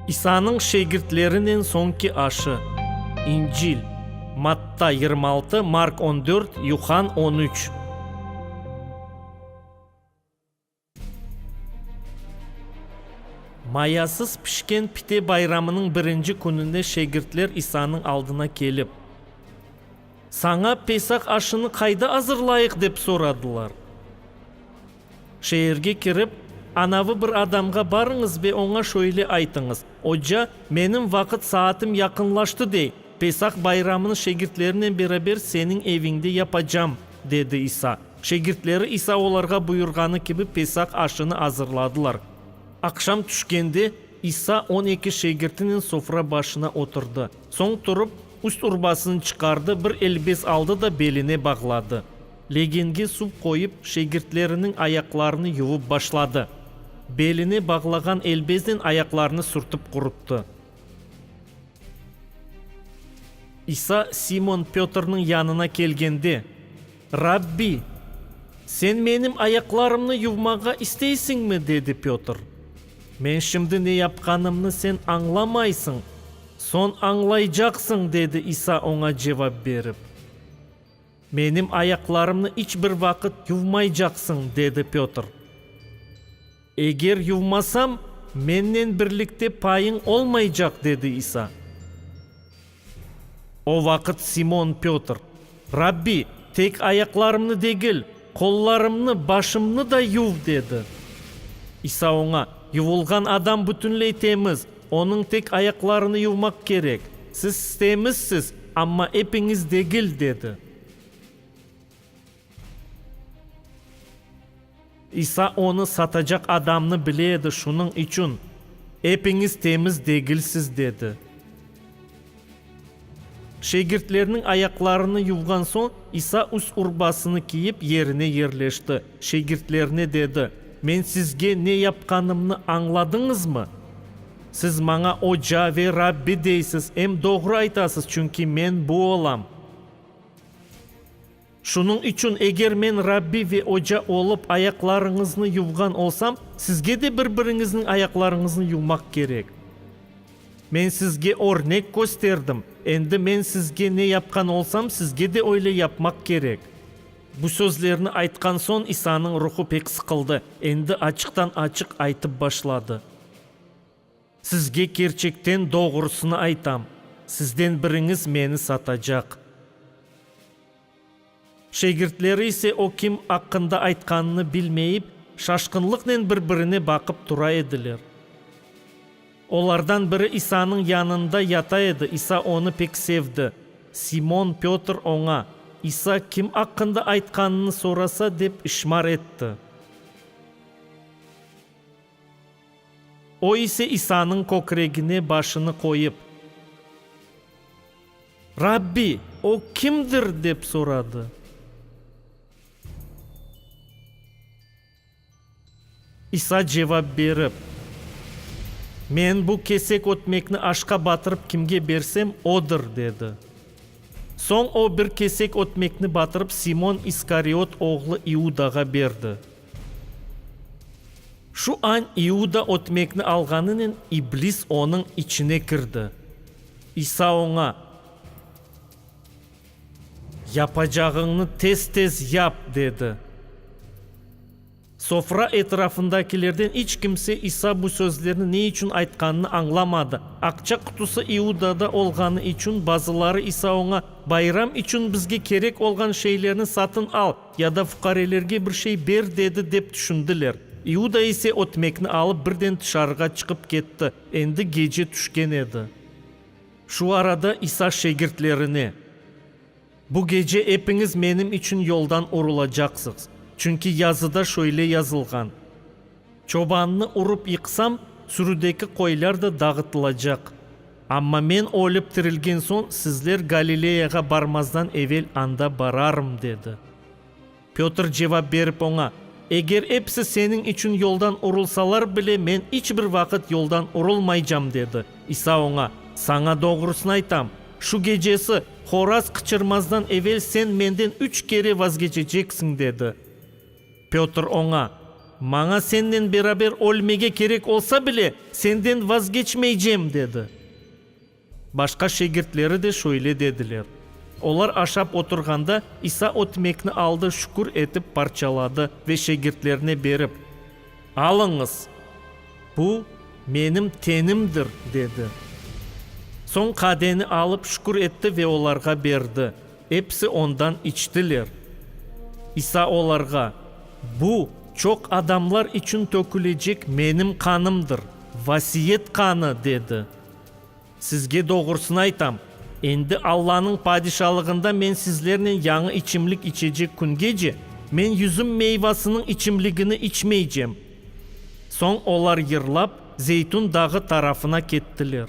İsanıñ şegirtlerinen soñki aşı. İncil. Matta, yirmi altı, Mark, on dört, Yuhann, on üç. Mayasız pişken pite bayramınıñ birinci kününe şegirtler İsanıñ aldına kelip, Saña Pesah aşını qayda azırlayıq? dep soradılar. Şeerge kirip, anavı bir adamğa barıñız ve oña şöyle aytıñız, Oca, menim vaqıt saatim yaqınlaştı dey, Pesah bayramını şegirtlerinen beraber seniñ eviñde yapacam, dedi İsa. Şegirtleri İsa olarğa buyurğanı kibi Pesah aşını azırladılar. Aqşam tüşkende, İsa on eki şegirtinen sofra başına oturdı. Soñ turıp, üst-urbasını çıqardı, bir elbes aldı da beline bağladı. Legenge suv qoyıp, şegirtleriniñ ayaqlarını yuvıp başladı. Beline bağlağan elbeznen ayaqlarını sürtip quruttı. İsa Simon Pötrniñ yanına kelgende, Rabbi, sen menim ayaqlarımnı yuvmağa isteysiñmi? dedi Pötr. Men şimdi ne yapqanımnı sen añlamaysıñ, soñ añlaycaqsıñ, dedi İsa oña cevap berip. Menim ayaqlarımnı iç bir vaqıt yuvmaycaqsıñ, dedi Pötr. Eger yuvmasam, mennen birlikte payıñ olmaycaq, dedi İsa. O vaqıt Simon Pötr, Rabbi, tek ayaqlarımnı degil, qollarımnı, başımnı da yuv, dedi. İsa oña, Yuvulğan adam bütünley temiz, Onıñ tek ayaqlarını yuvmaq kerek. Siz istemizsiz, amma epiñiz degil, dedi. İsa onı satacaq adamnı bile edi, şunıñ içün, Epiñiz temiz degilsiz, dedi. Şegirtlerniñ ayaqlarını yuvğan soñ, İsa üst urbasını kiyip, yerine yerleşti. Şegirtlerine dedi, Men sizge ne yapqanımnı añladıñızmı? Siz maña Oca ve Rabbi deysiz, em doğru aytasız, çünki men bu olam. Şunıñ içün, eger men Rabbi ve oca olıp, ayaqlarıñıznı yuvğan olsam, sizge de bir-biriñizniñ ayaqlarıñıznı yuvmaq kerek. Men sizge örnek kösterdim, endi men sizge ne yapqan olsam, sizge de öyle yapmaq kerek. Bu sözlerni aytqan soñ, İsanıñ ruhu pek sıqıldı, endi açıqtan-açıq aytıp başladı. Sizge kerçekten doğrusını aytam, sizden biriñiz meni satacaq. Şegirtleri ise o kim aqqında aytqanını bilmeyip, şaşqınlıqnen bir-birine baqıp tura ediler. Olardan biri İsanıñ yanında yata edi, İsa onı pek sevdi. Simon Pötr oña, İsa kim aqqında aytqanını sorasa, dep işmar etti. O ise İsanıñ kökregine başını qoyıp. Rabbi, o kimdir? dep soradı. İsa cevap berip. Men bu kesek ötmekni aşqa batırıp kimge bersem, odır, dedi. Soñ o bir kesek ötmekni batırıp Simon İskariot oğlu İudağa berdi. Şu añ İuda ötmekni alğanınen iblis onıñ içine kirdi. İsa oña, Yapacağıñnı tez-tez yap, dedi. Sofra etrafındakilerden iç kimse İsa bu sözlerni ne içün aytqanını añlamadı. Aqça qutusı İudada olğanı içün bazıları İsa oña, Bayram içün bizge kerek olğan şeylerni satın al, Ya da fuqarelerge bir şey ber, dedi, dep tüşündiler. İuda ise ötmekni alıp birden tışarığa çıqıp ketti, endi gece tüşken edi. Şu arada İsa şegirtlerine, Bu gece epiñiz menim içün yoldan urulacaqsıqz, çünki yazıda şöyle yazılğan, Çobannı urıp yıqsam, sürüdeki qoylar da dağıtılacaq. Amma men ölip tirilgen soñ sizler Galileyağa barmazdan evel anda bararım, dedi. Pötr cevap berip oña, Eger episi seniñ içün yoldan urulsalar bile, men iç bir vaqıt yoldan urulmaycam, dedi. İsa oña, Saña doğrusını aytam, şu gecesi, horaz qıçırmazdan evel sen menden üç kere vazgeçeceksiñ, dedi. Pötr oña, Maña sennen beraber ölmege kerek olsa bile, senden vazgeçmeycem, dedi. Başqa şegirtleri de şöyle dediler. Olar aşap oturğanda, İsa ötmekni aldı, şükür etip, parçaladı ve şegirtlerine berip, Alıñız, bu, menim tenimdir, dedi. Soñ qadeni alıp, şükür etti ve olarğa berdi. Episi ondan içtiler. İsa olarğa, Bu, çoq adamlar içün tökülecek menim qanımdır, vasiyet qanı, dedi. Sizge doğrusını aytam, endi Allanıñ Padişalığında men sizlernen yañı içimlik içecek küngece, men yüzüm meyvasınıñ içimligini içmeycem. Soñ olar yırlap, Zeytun dağı tarafına kettiler.